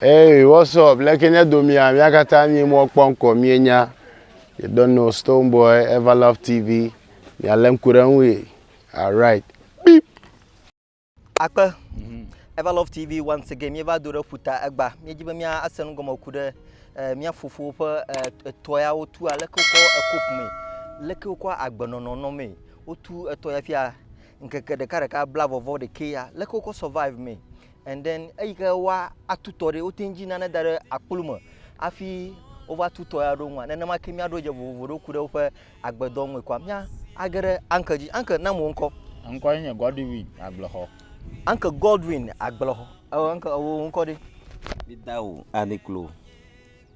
Hey what's up leke nye domia mia katã nyi mɔ kpɔ ŋkɔ mie nya you don't know stone boy ever love tv mia le ŋku ɖe ŋui alright beep akpe ever love tv once again mie va do ɖe ƒuta egba mie dzi be mia ase nu gɔme ku ɖe eh, mia fofo ƒe eh, etɔ ya wo tu aleke wokɔ ekop me leke wokɔ agbenɔnɔ nɔ me wotu etɔ ya fia ŋkeke ɖeka ɖeka bla vɔvɔ ɖekɛ ya leke wokɔ survive me And then eyi ke woa atutɔ ɖe, wote ŋdzi nane da ɖe akplu me afi wova tutɔ ya ɖo ŋua, nenema ke mia ɖo dze vovovo ɖo ku ɖe woƒe agbedɔ ŋue kɔa, mia age ɖe anke dzi. Anke, na mo ŋkɔ. Ŋkɔ ye nye Godwin Agblexɔ. Anke Godwin Agblexɔ, ewɔ anke, ewɔ ŋkɔ ɖe? Meda o, Aniklo.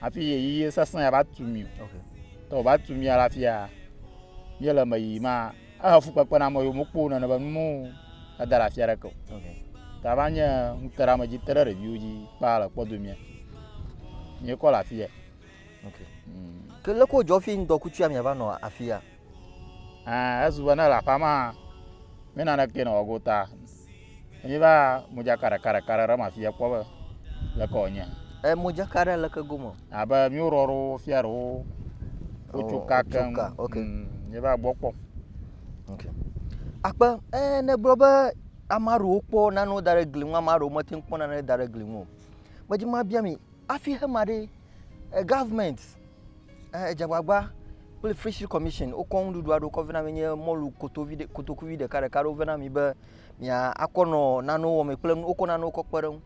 Hafi ɣeyiɣi sesẽ ya va tu mi o. Tɔ va tu mia le afia míele eme yiyim ma, ehe fukpekpe na ame yiwo mokpɔ nene be nu mɔ eda ɖe afi aɖeke o. Ta va nye ŋuteɖeame dzi te ɖe ɖeviwo dzi kpaa le kpɔdo mia. Míekɔ le afia. Ke leke wodzɔ hafi ŋdɔkutsu ya miava nɔ afia? Ɛɛ, ezu be ne ele aƒea mea, mi naneke nɔ gota. Mi va modzaka ɖeka ɖeka ɖe ɖe ma fia kpɔ be leke wònye. E, modzaka ɖe leke gome? Abe mi wò ɖɔɖo fia ɖewo wotsoka keŋ. Wotsoka, ok. Mm, Mi va gbɔ kpɔ. Ok. Akpe, ɛ, nègblɔ be ame aɖewo kpɔ nanewo da ɖe gli ŋu, ame aɖewo mete ŋu kpɔ nanewo da ɖe gli ŋu o. Medzi be mabia mi, hafi hema ɖe, Government dze agbagba kple Fishery Commission wokɔ nuɖuɖu aɖewo kɔ vɛ na mi nye mɔlu kotovi ɖe kotokuvi ɖekaɖeka aɖewo vɛ na mi be miakɔ nɔ nanewo wɔmee kple nu wokɔ nanewo kɔ kpe ɖe eŋu.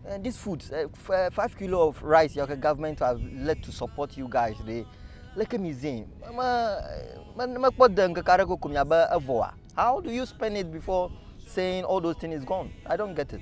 Eh, this food, eh, f- eh, five kilo of rice, your government have led to support you guys. They, leke mi zin? Me me mekpɔ de ŋkeke aɖe koko miabe evɔa. How do you spend it before saying all those things is gone? I don't get it.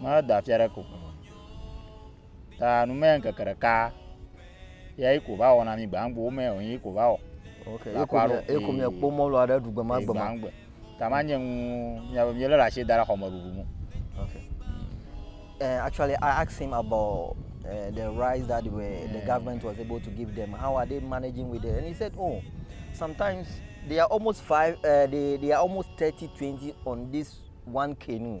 Medo afia ɖe ko. Ta nu mɛ ŋkeke ɖeka ya yi ko va wɔ na mi gbangbo mɛ o yi ko va wɔ. Ok, yi ko mi yi ko mi kpo mɔlu aɖe ɖu gbema gbema. Gbangbe. Ta ma nye ŋu mi abe mi le la shi da la xɔme ɖuɖu mu. Ok. Uh, actually, I asked him about uh, the rice that were, yeah. the government was able to give them. How are they managing with it? And he said, oh, sometimes they are almost five, uh, they, they are almost 30, 20 on this one canoe.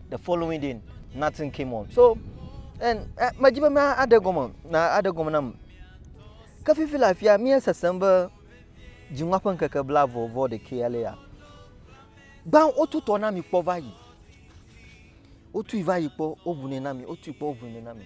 the following day nothing came on so and eh, medzi be mea aɖe gɔme na aɖe gɔme nam ke fifi le afia mía sesem be dziŋua ƒe ŋkeke bla vɔ vɔ ɖekɛ ale ya gbã wotu tɔ na mi kpɔ va yi wotui va yi kpɔ woʋunɛ na mi wotui kpɔ woʋunɛ na mi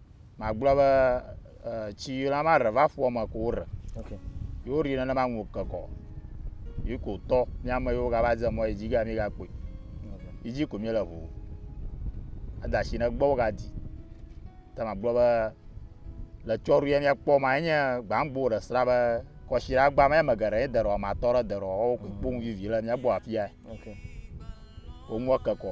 magblɔ be tsi yi la ma re va ƒua me ko wore yi wori nenema ŋu kekɔ yi ko tɔ miame yiwo gava dze mɔ yi dzi ga mi ga kpɔe yi dzi ko mi le ʋu ada si ne gbɔ wo ga di ta magblɔ be le tsɔru ya mia kpɔ ma enye gbangbo ɖe sra be kɔshi la gba me me geɖe ye derɔ ma tɔ ɖe derɔ wo ko kpɔ vivi le mia gbɔ afia okay wo ŋu kekɔ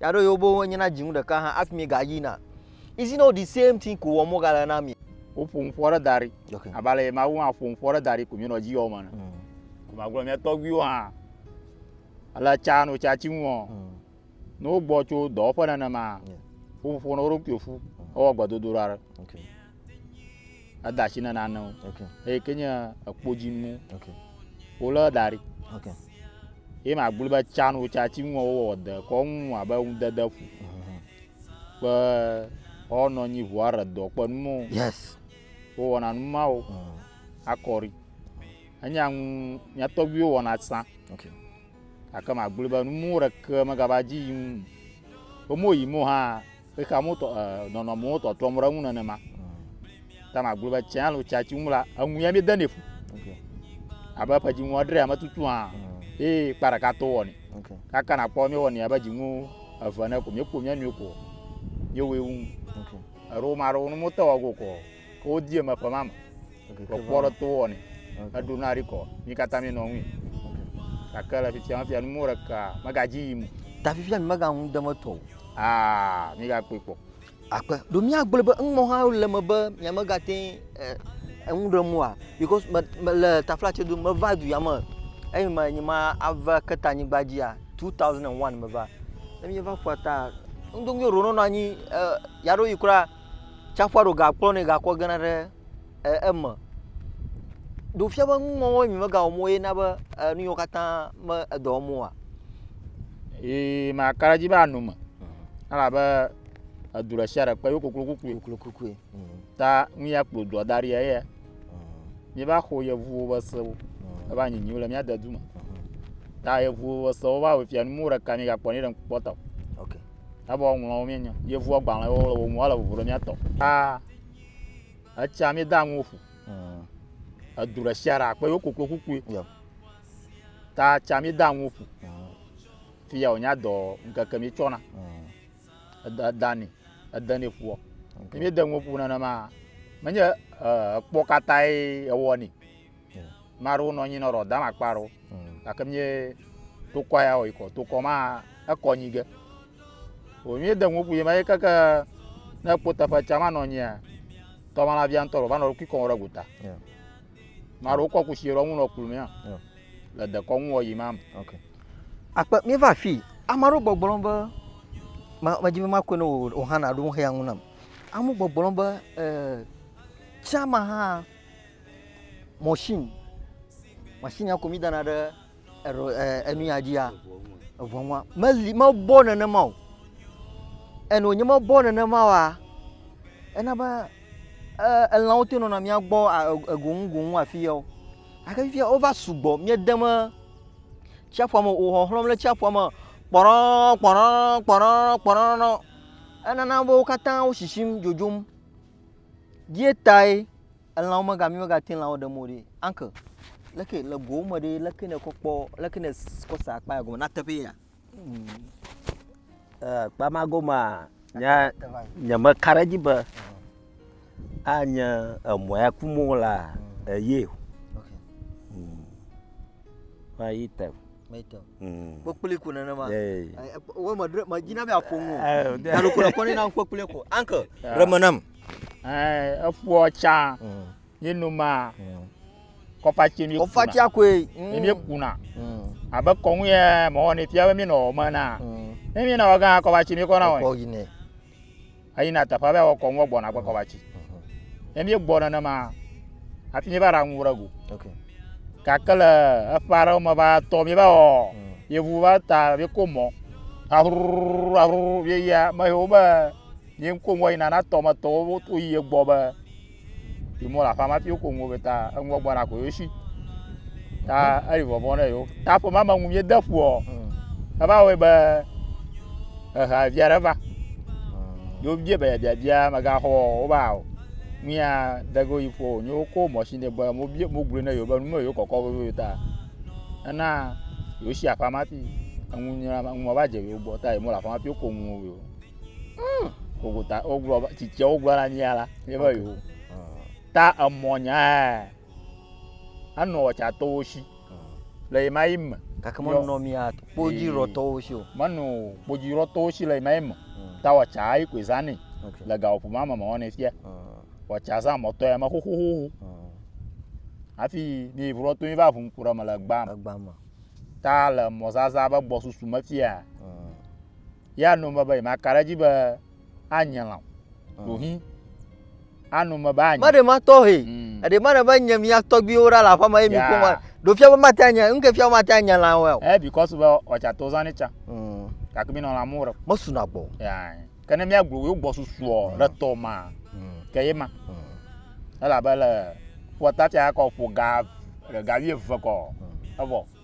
Ya ɖo yewo boŋ enye na dzinu ɖeka hã hafi miegayina. Is it not the same thing ko wɔm wogale na mi? Woƒo nuƒo aɖe da ɖi abe ale yi Mawu hã ƒo nuƒo aɖe da ɖi ko míenɔ edzi yɔm ene. Mm. Ko magblɔ mía tɔgbuiwo hã le tsa no tsa tsi ŋu. Mm. Ne wogbɔ tso dɔwɔƒe nenema, woƒo ƒo na wo ɖokui ƒu ewɔ gbedodoɖa aɖe. Okay. eda asi ne nanewo okay. eye ke nye ekpodzinu okay. wolé da ɖi okay. ye magblɔ be tsan wotsa tsi ŋu wowɔ de kɔ ŋu abe ŋudede ƒu mhm. kpe ɔnɔ nyi ʋua re dɔ kpe nu mɔ yes wowɔna nu mawo mhm. akɔri enye ŋu mía tɔgbuiwo wɔna sã okay. gake magblɔ be nu mɔ ɖeke megava dzi yi ŋu be mo yi mo hã Xexea me tɔ, eh, nɔnɔmewo tɔtrɔm ɖe eŋu nenema. Ta magblɔ be tsɛ alo tsa tsi ŋu la, eŋu ya mi denɛ fu. Okay. Abe eƒe dziŋu edre ame tutu hã. Mm. Ye kpa ɖeka to wɔni. Okay. Kaka na kpɔ mi wɔni abe dziŋu eve ne ko mi kpo mi nui ko. Mi wo ewu. Okay. Ero ma ro nu mo te wɔ go ko. Ke wodi eme ƒe ma me. Okay, ke va- Kpɔkpɔ ɖe to wɔnɛ. Eɖo na ɖi kɔ. Mi katã mi nɔ ŋui. Gake le fifia fia numewo ɖeka megadzi yim o. Ta fifia mi mega ŋu dem etɔ o. Aa mi ga kpɔe kpɔ. Akpe. Ɖo mia gblɔe be eŋumɔ hã le eme be mia mega teŋ eh, eŋu ɖem oa? Because me, me le tafla tse do me va du ya me. Eyi me nyi ma ava ke ta nyigba dzia, 2001 me va. Ne mi va ƒua ta, ŋdo ŋuie ɖo nɔnɔ anyi eh, ya ɖo yi kura. tsaƒua ɖo gakplɔ nɛ gakɔ gena ɖe e eme. Ɖo fia be nuŋɔŋlɔ mi megawɔ mɔ ye na be e nu yiwo katã me edɔ wɔm oa? Ee maka ɖe edzi be ano me mhm. elabe edu ɖe sia ɖe kpe yewo koklo kukui. Koklo kukui. Mhm. Ta nu ya kplɔ dua da ɖi eya. Mhm. Mi va xɔ yevuwo be sewo eva nyinyiwo le mia de du me. Ta yevuwo be sewo va wɔ fia nu mɔ ɖeka mi gakpɔ ne ɖe ŋku kpɔtɔ. Okay. Ebe woaŋlɔwo míenye. Yevua gbalẽ wo le wo ŋu, ele vovo ɖe míatɔ. Aa, etsia mi da ŋu ƒu. Mm. Edu ɖe sia ɖe akpe yewo koklo kukui. Yep. Ta tsia mi da ŋu ƒu. Mm. Fia wònya dɔ ŋkeke mi tsɔna. Mm. Eda eda ni, ede ni ƒua. Okay. Mi de ŋu ƒu nenema. Menye ekpɔ katãe ewɔ ni. Maɖewo nɔ anyi nɔ ɖɔ dama kpa ɖo. Hmm. Gake mie tokɔ ya wɔ ikɔ tokɔ ma ekɔ nyi ge. O mie de ŋuku ye ma ye keke ne kpo teƒe tsa ma nɔ anyi ya. Tɔma la via ŋtɔ ɖo va nɔ kikɔ wɔ ɖe gota. Maɖewo kɔ kusi ɖɔ ŋu nɔ klu mia. Le dekɔ ŋu wɔ yi ma. Okay. Akpe mi va fi. Ama ɖo gbɔgblɔ be ma ma dzi be ma kɔe ne o hã na ɖo ŋu hea ŋu nam. Amu gbɔgblɔ be eh, tsama hã mɔshin, mɔshin ya ko mi dana ɖe eɖo e enu ya dzia eŋua ŋua meli mebɔ nenema o. Enu wonye mebɔ nenema oa ena be e elãwo te nɔna mia gbɔ a e goŋ goŋ afi ya o. Gake fifia wova sugbɔ miede me tsiaƒua me o wo xɔxlɔ̃m ɖe tsiaƒua me kpɔɖɔɔɔ kpɔɖɔɔɔ kpɔɖɔɔɔ kpɔɖɔɔɔ enana be wo katã wo shishim dzodzom. Ye tae. Elãwo mega mi mega te lãwo ɖem o ɖi. Uncle, leke le gowo me ɖi leke ne kɔ kpɔ leke ne kɔ sa akpa ya gɔme na teƒe ya. Mm. Eh, akpa ma gɔme nya nye me ka ɖe dzi be mm. anye emɔ ya ku mo la mm. eye. Okay. Mm. Ma yi te. Mm. kpekpli ko nenema eh, wo me dre me dzina be aƒo ŋu eh, na ɖo ko na kɔni na kpekpli ko uncle eh. reme nam Eh, eƒua tsa mm. ye noma mm. kɔfatsi mi kɔfatsia koe mm. mi kuna abe kɔnu yɛ mɔwɔ ne fia be mi nɔ ɔmɛ na ne mi na wɔ gã kɔfatsi mi kɔna wɔ ayi na teƒe bɛ wɔ kɔnu gbɔna gbɔ kɔfatsi ne mi gbɔ nenema afi mi va ɖa ŋu ɖe go gake le eƒe aɖewo me va tɔ mi va wɔ yevu va ta mi ko mɔ aruru aruru mi ya me yewo be. Ye ŋko ŋgɔ yina na tɔ me tɔwo wo to yi ye gbɔ be yi mo la fa ma fiwo ko ŋgo be ta ŋgɔ gbɔ na ko yo shi. Ta eri vɔvɔ ne yo. Ta fo ma me ŋu ye de fu o. Eva wo be eha via re va. Yo bia be bia bia me ga ho o ba o. Mia de go yi fo nyo ko mo shi ne be mo bia mo glu ne yo be nume yo kɔkɔ be yo ta. Ena yo shi afa ma fi. Ŋu nyina ŋu mo ba je yo gbɔ ta yi mo la fa ma fiwo ko ŋgo yo. Hmm. Gogota wogblɔ be tsitsia wogblɔ na nyia la nye be yo. Ta emɔ nya anɔ ɔtsatɔwo si le yi ma yi me. Gake menɔ mia kpodzi rɔtɔwo si o. Menɔ kpodzi rɔtɔwo si le yi ma yi me. Ta ɔtsa ayi koe zanɛ le gawoƒo ma me mewɔ ne fia. Ɔtsa zã mɔtɔ ya me xoxoxo. Hafi mi yi vlɔtɔ yi va ʋu ŋku ɖe me le gbã me. Ta le mɔzaza be gbɔsusu me fia. ya nu me be yemaka ɖe edzi be anye lã ɖo hi anu me be anye maɖe ma tɔhe mm. eɖe maɖe be nye mia tɔgbiwo ɖa le aƒe ma ye mi ko ma ɖo fia be mate anye nu ke fia be mate anye lã wɔ eh because be ɔtsa to zani tsa mm. gake mi nɔ lã mu re me suna gbɔ ya ke ne mia gbo yo gbɔ susuɔ ɖe tɔ ma mm. ke ye ma elabe le ƒɔta tsa kɔ ƒo ga ga vie ve kɔ evɔ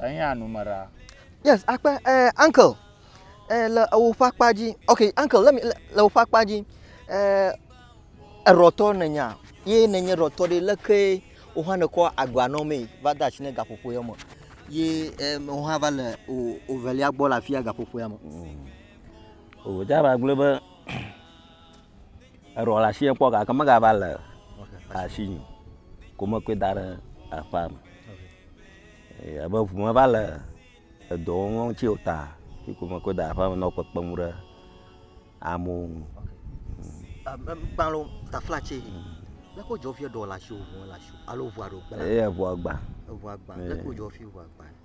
Enya nume ɖa. Yes, akpe eh, uncle eh, le ewo ƒe akpa dzi. Ok, uncle le le ewo ƒe akpa dzi. Eh, erɔtɔ nenya ye nenye erɔtɔ ɖe leke wo hã nekɔ agba nɔ mee va de asi ne gaƒoƒo ya me. Ye eh, wo hã va le o ovelia gbɔ le afia gaƒoƒo ya me. Mm. O, dza ba gblɔ be Eɖɔ le ashi kpɔ gake megava le ashi nyi o. Ko mekɔe da ɖe aƒea me. Eye ebe ŋu meva le edɔ wɔm ŋutsi o ta yi ko mekɔe da ɖe aƒea me nɔ kpekpem ɖe amewo ŋu. Eye eŋua gba.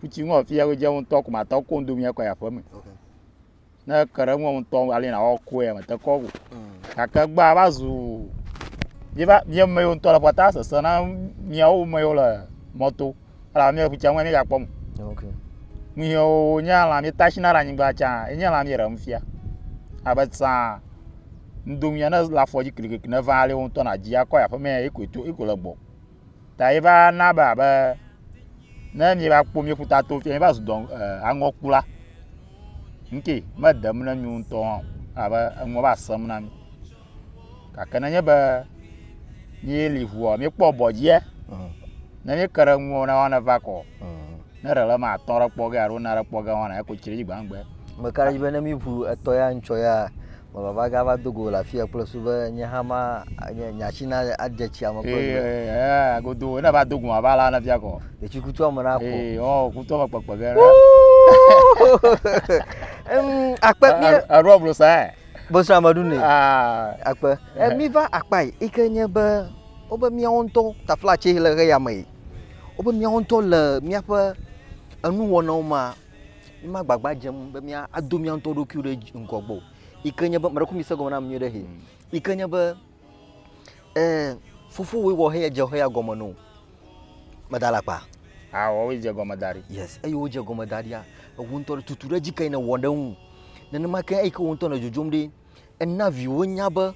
futsi ŋɔ fi yɛwo dze ŋutɔ ko matɔ ko ŋdo mia kɔ ya ƒeme ne ke ɖe ŋɔ ŋutɔ ali na wɔ ko ya mete kɔ go gake gba va zu mi va mi me yo ŋutɔ le pɔta sese na miawo me yo le mɔto ala mi futsi ŋɔ mi ga kpɔ mo mi yo nye ala mi tashi na la nyigba tsa enye la mi re mfia abe tsa ŋdo mia ne la fɔ dzi klikli ne va ali ŋutɔ na dzi akɔ ya ƒeme ya iko to iko le gbɔ ta ye va na be abe ne mi va kpɔ mi ƒuta to fia mi va zu dɔn aŋɔkula ŋkɛ me dem ne mi ŋutɔ hã abe eŋɔ va sɛm na mi gake ne nye be mi li ʋua mi kpɔ bɔdzia ne mi ke ɖe ŋuwɔ na wana va kɔ Ne ɖe le eme atɔ ɖe kpɔ ge alo ne ɖe kpɔ ge wɔna eko tsi ɖe dzi gbãgbe. Ame ka ɖe dzi be ne mi ʋu etɔ ya ŋtsɔ ya me vava ga va do go le afiya kple su be nye hã ma nye nya tsi na adze tsia me kple su. Eee godo ne va do go va la ne fia kɔ. Etsi kutua me na kɔ. Ee ɔ kutua me kpekpe ge. Em akpe mi. Eɖo blo sa ɛ. Bosra me ɖu ne. Aa akpe. E mi va akpa yi ke nye be wobe miawo ŋutɔ taflatse le ʋe ya me. wobe míawo ŋutɔ le míaƒe enuwɔnawo mea, mímagbagba dzem be míado mía ŋutɔ ɖokui ɖe dzi ŋgɔ gbɔ o. Yi ke nye be, meɖe kuku mi se egɔme nam nyuie ɖe hɛ. Yi ke nye be, ɛɛ fofowòe wɔ heya dze heya gɔme nɛ o. Meda alakpa? Aa woawoe dze gɔme da ɖi. Yes, eyi ke wodze gɔme da ɖia, ewò ŋutɔ tutu ɖe edzi kae nèwɔ ɖe eŋu. Nenema ke eyi ke wò ŋutɔ nèdzodzom ɖi. Ena viwo nya be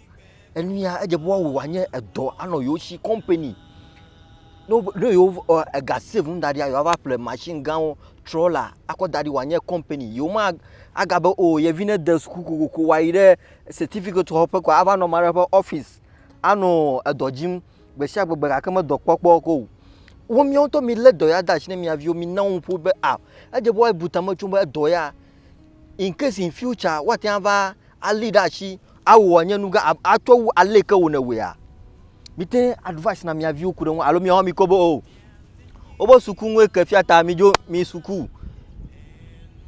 enu ya edze be woawɔ wòanye edɔ anɔ yewo si kɔmpani. Ne wo ne yewo ɔ ega save nu da ɖia yewoava ƒle masini gãwo, trɔla akɔ da ɖi wòanye kɔmpani. Yewoma aga be o ye vi nede suku kokoko wòayi ɖe sɛtifikɛti xɔƒe kɔa ava nɔ ame aɖe ƒe ɔfisi anɔ edɔ dzim gbesiagbegbe gake medɔ kpɔkpɔ ke o. Wo míawo ŋutɔ milé dɔ ya de asi na mia viwo. Mina wo nuƒo be a edze be woabu tame tsom be edɔ ya. in case in future woate ŋu ava alée ɖe asi awɔ wòanye nu gã atsɔ wu ale yi ke wò nèwɔea. Mìte ŋu advice na mìa viwo ku ɖe eŋu alo mìawo mìkpɔ be o woƒe suku nue ke fia ta midzo miyi suku.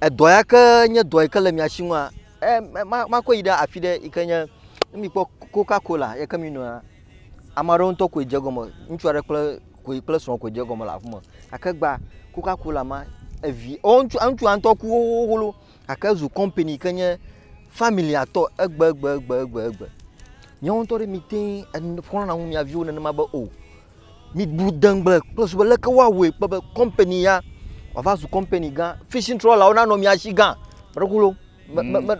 Edɔ ya ke nye dɔ yi ke le mia si ŋua, makɔe yi ɖe afi ɖe yi ke nye ne mìkpɔ Coca Cola yi ke minoa. Ame aɖewo ŋutɔ koe dze egɔme. Ŋutsu aɖe kple koe kple srɔ̃ koe dze egɔme le aƒeme. Gake gbea Coca Cola ma evi ɔ ŋutsu ŋutsua ŋutɔ ku xoxoxo gake ezu kɔmpani yi ke nye familia tɔ egbegbegbegbe. Míawo ŋutɔ ɖe mìte ŋu enu xlɔ̃na ŋu mia viwo nenema be o. Mibu degbe kple su be leke woawɔe kpe be kɔmpani ya wòava zu kɔmpani gã. Fishing trɔlawo nanɔ mia si gã. Ame aɖe ku loo.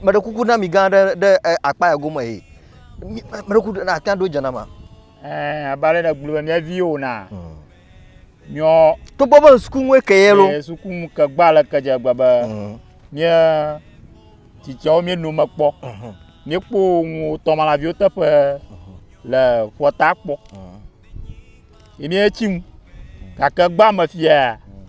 Meɖe kuku na mi gã aɖe ɖe akpa ya gome he. Meɖe kuku na ate ɖo dzenama. Eh, abale na gblube mia vi o na. Hmm. Mio. To bobo suku mwe ke yelo. Eh, suku mu ke gba le ke je gba ba. Hmm. Mie titio mie no makpo. Hmm. Mie po mu to mala vi o te pe hmm. le fota po. Hmm. Mie chim. Ka ke gba ma fia. Hmm.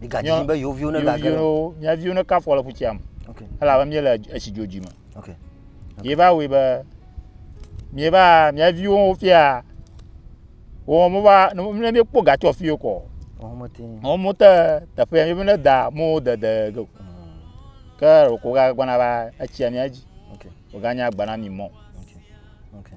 Migadi be yewo viwo ne gage. Mia viwo ne kafɔ le ƒutsia me. Okay. Elabe mie le etsi dzodzi me. Okay. okay. Ye va wui be mie va mia viwo fia. Wo mo va ne mie kpɔ gatsɔ fio kɔ. Wo mo te. Wo mo te teƒe ya mie ne da mo de de go. Hmm. Ke o ko ga gbana va etsia mia dzi. Okay. O ga nya gbana mi mo. Okay. Okay.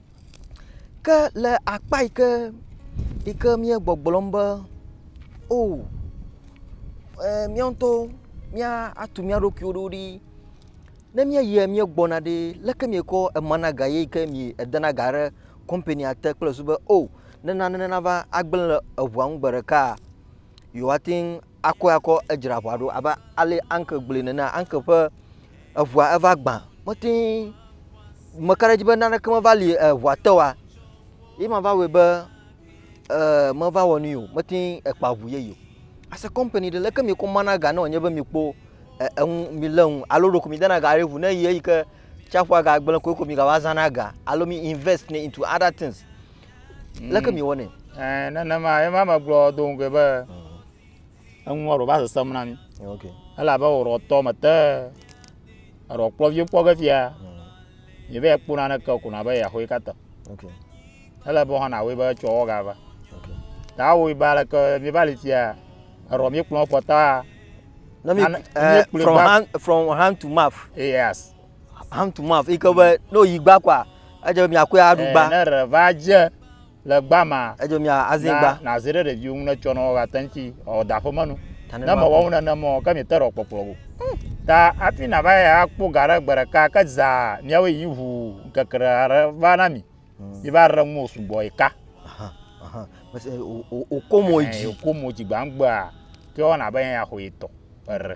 Ke le akpa yi ke yi ke míegbɔgblɔm be o e mía ŋutɔwo míatu mía ɖokuiwo ɖo ɖi ne míeyia míegbɔna ɖee, leke miekɔ emana ga ye yi ke miedena ga ɖe kɔmpania te kple susu be o ne nane nava agblẽ le eŋua ŋu gbe ɖekaa, yewoate ŋu akɔe akɔ edzra ŋua ɖo abe ale Anke gblɔe nene. Anke ƒe. eŋua eva gbã. Mete ŋu, meka ɖe edzi be naneke meva li eŋua te oa, ye ma va wɔe be eeee meva wɔ nui o, mete ŋu kpa ŋu yeye o. As a kɔmpani ɖe, leke mieko mana ga nɔ nye be mikpɔ eŋu, milé ŋu alo ɖeko midena ga ɖe ŋu ne ɣeyiɣi eyi ke tsiaƒua gagblẽ koe ko migava zãna ga alo mi invest nɛ into other things. Leke miewɔnɛ? Ɛɛ nenema ye ma megblɔ do ŋugɔe be. eŋua ɖo va sesem na mi elabe wòɖɔ tɔ mete eɖɔ kplɔ viwo kpɔ ge fia mi be ekpona ne ke kuna be yaxoe kata ele be hɔna woe be tsɔ wɔ gava ta woe ba le ke mi ba li fia eɖɔ mi kplɔ kpɔ ta na mi eh, from hand from hand to mouth yes hand to mouth ike be no yi gba kwa edze mi akɔe aɖu gba eh, ne re va dze le gba ma, Edzo mia azin na gba. nazi ɖe ɖeviwo ŋu ne tsɔ nɔ woagate ŋuti ɔ da ƒeme nu. Ta ne Ne mewɔ maku. ŋu nenem ɔ, ke miete ɖɔ kpɔkplɔ go. Ta hafi nava yi akpɔ ga ɖe gbe ɖeka ke zaa miawoe yi ŋu ŋkeke ɖe aɖe va na mi. Mi va ɖe ŋuwò sugbɔ yi ka. Aha, aha. Mese o, o, o ko mo Ɛɛ, dzi. o ko mo dzi gba ŋgbea ke wɔna be yɛ axɔ yi tɔ. Eɖe.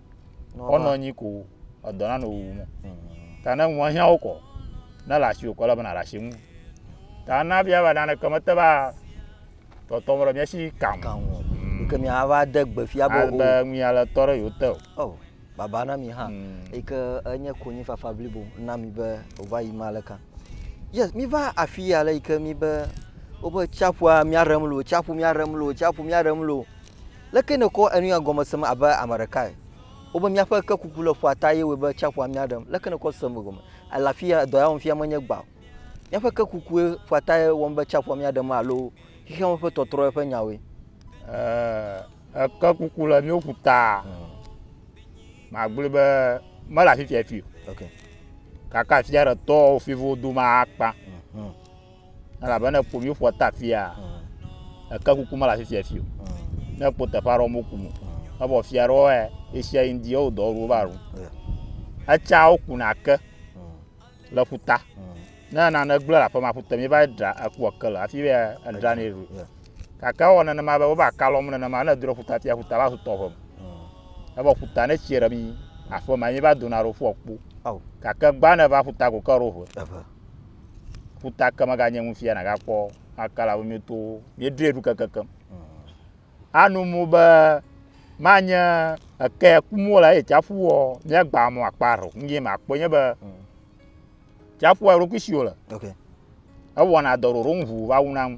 ɔnɔ anyi ko edɔ nanɔ wuwu mo ta ne ŋua hiã wokɔ ne le asi wokɔ le bena ɖasi ŋu ta na bia ba nane keme te ba tɔtɔ mo le mia si kan hmm. ke mi ava de gbe fia bo o be mi ale tɔ ɖe yote o oh baba na mi ha hmm. ike enye konyi fafa blibo na mi be ova yi ma le kan yes mi va afi ya le ike mi be wobe tsaƒua mia rem lo tsaƒu mia rem lo tsaƒu mia rem lo Leke nèkɔ enuya gɔme sem abe ame ɖekae? Wobe míaƒe ke kuku le ƒua ta ye wɔe be tsiaƒua mía ɖem. Leke nèkɔ sem egɔme? Ele afia, dɔ ya wɔm fia menye gbã o. Míaƒe ke kukue ƒua ta ye wɔm be tsiaƒua mía ɖem alo xexeame ƒe tɔtrɔe ƒe nyawoe? Ɛɛ, eke kuku le míwo ƒu ta. Magblɔe be mele afifia fii o. Gake afia ɖe tɔwo fiwo dome akpa. Elabena èƒo mí ƒua ta fia, èke kuku mele afi sia afi o. Ne èkpɔ teƒe aɖe wɔm woku mo, evɔ fia aɖewo ya ɣesia ɣi ŋdi yewo dɔwɔɖuwo va ɖu. Etsea wokuna ke le ƒuta. Ne nane gblẽ le aƒe ma ƒute mi va dra ekua ke le hafi be edranɛ ɖu. Gake ewɔ nenema be wova ka lɔm nenema ne edo ɖe ƒuta fia ƒuta va zu tɔʋe me. Evɔ ƒuta ne etsi ɖe mi aƒe ma mi va dona ɖo ƒua kpo. Gake gbã ne va ƒuta ko ke ɖo ʋe. ƒuta ke meganye ŋu fia nàgakpɔ makala wo mio towo mieɖoe ɖu kekekem anu mu be manye eke kum wole eye tsaƒu wɔ míagba mɔ akpa ɖo nu yɛ makpɔ nye be tsaƒua eɖokui si wole ewɔna dɔ ɖoɖo ŋu va wuna ŋu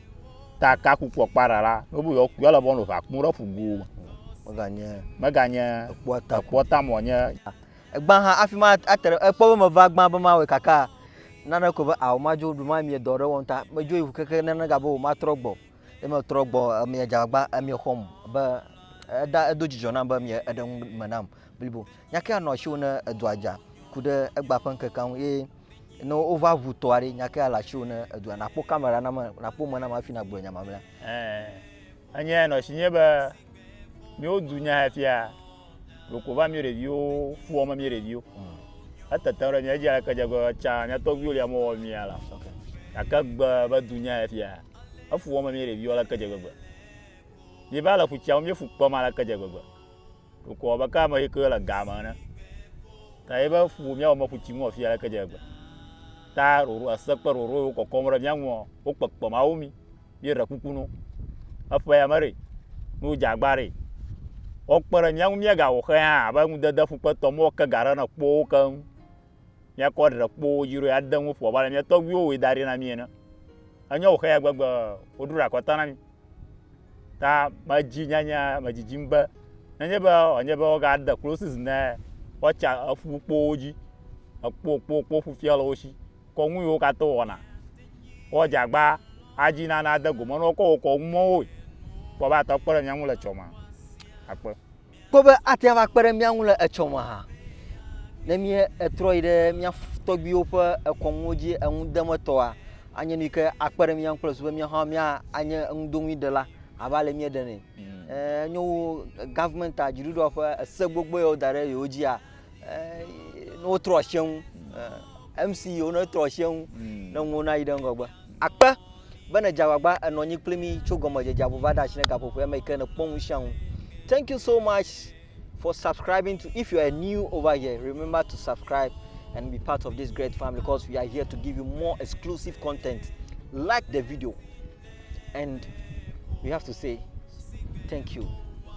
ta ka kukua kpara la nobu yɔ yɔ le bɔnu va kunu ɖe fugu me meganye meganye ekpɔ ta ekpɔ ta mo nye egba ha afi ma atere ekpɔ be meva gba be ma we kaka nane ko be awo ma jo du ma mi dɔ ɖe wɔn ta me jo iwu keke nane ga be wo ma trɔ gbɔ e me trɔ gbɔ e mi ja gba e mi xɔm be eda edo dzidzɔ nam be mi eɖe me nam blibo nyakea nɔ asiwò ne edɔa dza ku ɖe egba ƒe ŋkekea ŋu eye ne wova ʋu tɔa ɖi nyakea le asiwò ne edɔa nakpɔ kamera na me nakpɔ me na me hafi nagblɔ nya mamlea. Enye nɔ si nye be míwo du nya efia ɖoko va mí ɖeviwo fu wɔme mí ɖeviwo hmm. etete ɖe mía dzi aleke dze gbe tsa mía tɔgbuiwo li amewo wɔ mía la gake gbe be du nya efia efu wɔme mí ɖeviwo aleke dze gbegbe míeva le ƒu tsia me míefu kpɔm aleke dze gbegbe Wòkɔ abe ke ame yi ke le ga me ene. Ta ye be ƒu míawɔ me ƒu tsi ŋu afia leke dze egbe. Ta roro ese kple roro yiwo kɔkɔm ɖe mía ŋua, wokpekpe Mawu mí. Míeɖe kuku no. Eƒe ya me ɖe, ne wodze agba ɖe, woakpe ɖe mía ŋu míagawɔ xe hã abe ŋudede ƒukpetɔ mɔ ke ga ɖe ne kpɔ wo keŋ. míakɔ ɖe kpowo dzi ɖo ya de ŋu ƒo abe ale mía tɔgbuiwo wɔe da ɖi na mí ene. Enye wòxe ya gbegbe woɖo ɖe akɔta na mí. Ta medzi nyanya medzidzim be nenye be wòanye be wogade closes ne woatsa eƒu kpowo dzi ekpo kpo kpo ƒufia le wo si kɔ nu yiwo katã wɔna woadze agba adzi na nade gome na wo kɔ wokɔ numɔwoe kpɔ be atɔ kpe ɖe mía ŋu le tsɔmea akpe. kpɔ be ate ava kpe ɖe mía ŋu le etsɔ me hã. Ne míetrɔ yi ɖe mía tɔgbuiwo ƒe kɔnuwo dzi enudemetɔa, anye nu yi ke akpe ɖe mía ŋu kple susu be míawo hã míanye enudoŋuiɖela abe ale míeɖenɛ. Ẽ, nyo wu gɔvimɛntia, dziɖuɖua ƒe ese gbogbo yawo da ɖe yewo dzia, ne wotrɔ asi eŋu mc yiwo ne trɔ asi eŋu hmm. ne ŋuwo nayi ɖe ŋgɔgbe akpe be ne dze agbagba enɔ anyi kpli mi tso gɔmedzedze abo va ɖe asi ne gaƒoƒoe me yi ke ne kpɔ ŋu sia ŋu thank you so much for subscribing to if you are new over here remember to subscribe and be part of this great family because we are here to give you more exclusive content like the video and we have to say thank you